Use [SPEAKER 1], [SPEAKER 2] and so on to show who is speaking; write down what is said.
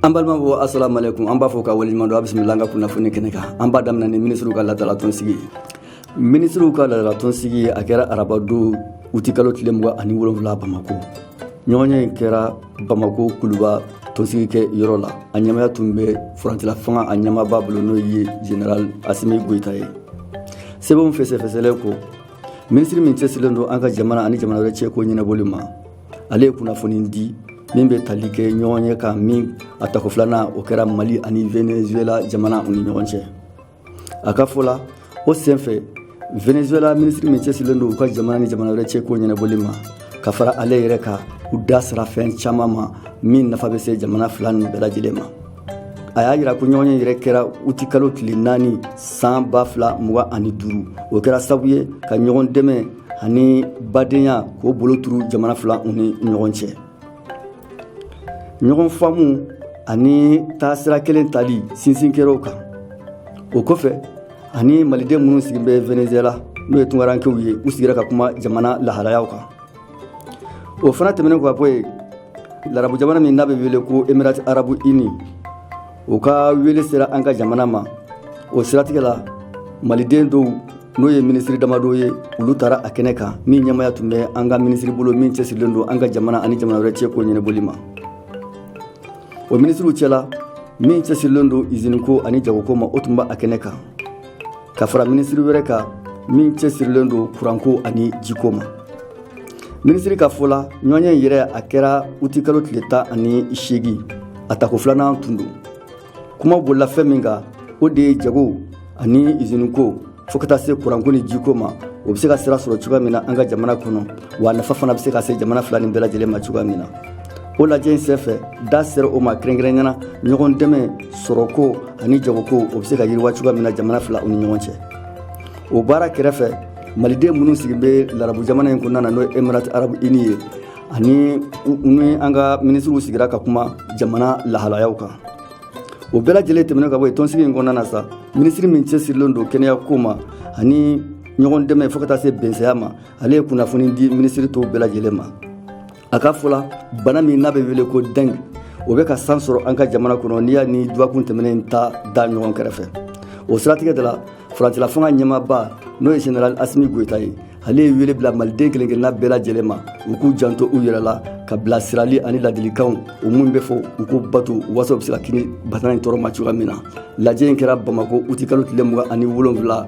[SPEAKER 1] an balimaw assalamu alaikum an b'a fo ka waleɲuman dɔn a bisimila an ka kunnafoni kɛnɛ kan an b'a daminɛ ni minisiriw ka laadala tɔnsigi ye minisiriw ka laadala tɔnsigi a kɛra arabadon utikalo tile mugan ani wolonwula bamako ɲɔgɔnye in kɛra bamako kuluba tɔnsigi kɛ yɔrɔ la a ɲɛmaya tun bɛ furancɛla fanga a ɲɛmaba bolo n'o ye general asimi goyita ye sɛbɛnw fɛsɛfɛsɛlen kɔ minisiri min cɛsirilen don an ka jamana ani jamana wɛrɛ cɛko ɲɛnabɔli ma ale ye kunnafoni di min bɛ tali kɛ ɲɔgɔnye kan min a tako filanan o kɛra mali ani venezuela jamana u ni ɲɔgɔn cɛ a ka fɔ la o senfɛ venezuela minisiri min cɛsirilen don u ka jamana ni jamana wɛrɛ cɛko ɲɛnabɔli ma ka fara ale yɛrɛ kan u da sera fɛn caman ma min nafa bɛ se jamana fila nin bɛɛ lajɛlen ma a y'a yira ko ɲɔgɔnye yɛrɛ kɛra utikalo tile naani san ba fila mugan ani duuru o kɛra sabu ye ka ɲɔgɔn dɛmɛ ani badenya k'o bolo turu jamana fila u ni ɲɔgɔn cɛ ɲɔgɔn faamu ani taasira kelen tali sinsin kɛr'o kan o kɔfɛ a ni maliden minnu sigi bɛ venezuela n'o ye tunkarankew ye u sigira ka kuma jamana lahalayaw kan o fana tɛmɛnen kɔ ka bɔ yen larabu jamana min n'a bɛ wele ko emirati arabu ini o ka wele sera an ka jamana ma o siratigɛ la maliden dɔw n'o ye minisiri damadɔ ye olu taara a kɛnɛ kan min ɲɛmaya tun bɛ an ka minisiri bolo min cɛsirilen don an ka jamana ani jamana wɛrɛ cɛko ɲɛnabɔli ma o minisiriw cɛla min cɛsirilen don iziniko ani jagoko ma o tun bɛ a kɛnɛ kan ka fara minisiri wɛrɛ kan min cɛsirilen don kuranko ani jiko ma minisiri ka fɔ la ɲɔgɔnye in yɛrɛ a kɛra utikalo tile tan ani seegin a tako filanan tun don kuma bolila fɛn min kan o de ye jago ani iziniko fo ka taa se kuranko ni jiko ma o bɛ se ka sira sɔrɔ cogoya min na an ka jamana kɔnɔ wa nafa fana bɛ se ka se jamana fila nin bɛɛ lajɛlen ma cogoya min na o lajɛ in senfɛ da sera o ma kɛrɛnkɛrɛnnenya na ɲɔgɔn dɛmɛ sɔrɔko ani jagoko o bɛ se ka yiriwa cogoya min na jamana fila u ni ɲɔgɔn cɛ o baara kɛrɛfɛ maliden minnu sigi bɛ larabu jamana in kɔnɔna na n'o emirati arabu ini ye ani ni an ka minisiriw sigira ka kuma jamana lahalayaw kan o bɛɛ lajɛlen tɛmɛnen ka bɔ yen tɔnsigi in kɔnɔna na sa minisiri min cɛsirilen don kɛnɛya ko ma ani ɲɔgɔn dɛmɛ fo ka taa se bɛsɛya ma ale ye kunnafoni di minisiri tɔw bɛɛ lajɛlen ma a ka fɔ la bana min n'a bɛ wele ko deng o bɛ ka san sɔrɔ an ka jamana kɔnɔ n'i y'a ni dɔgɔkun tɛmɛnen ta da ɲɔgɔn kɛrɛfɛ o siratigɛ de la furancɛla fanga ɲɛmaba n'o ye general asimi goyita ye ale ye wele bila maliden kelen kelenna bɛɛ lajɛlen ma u k'u janto u yɛrɛ la ka bilasirali ani ladilikanw u minnu bɛ fɔ u k'u bato waasa u bɛ se ka kisi bana in tɔɔrɔ ma cogoya min na lajɛ in kɛra bamako utikalo tile mugan ani wolonfila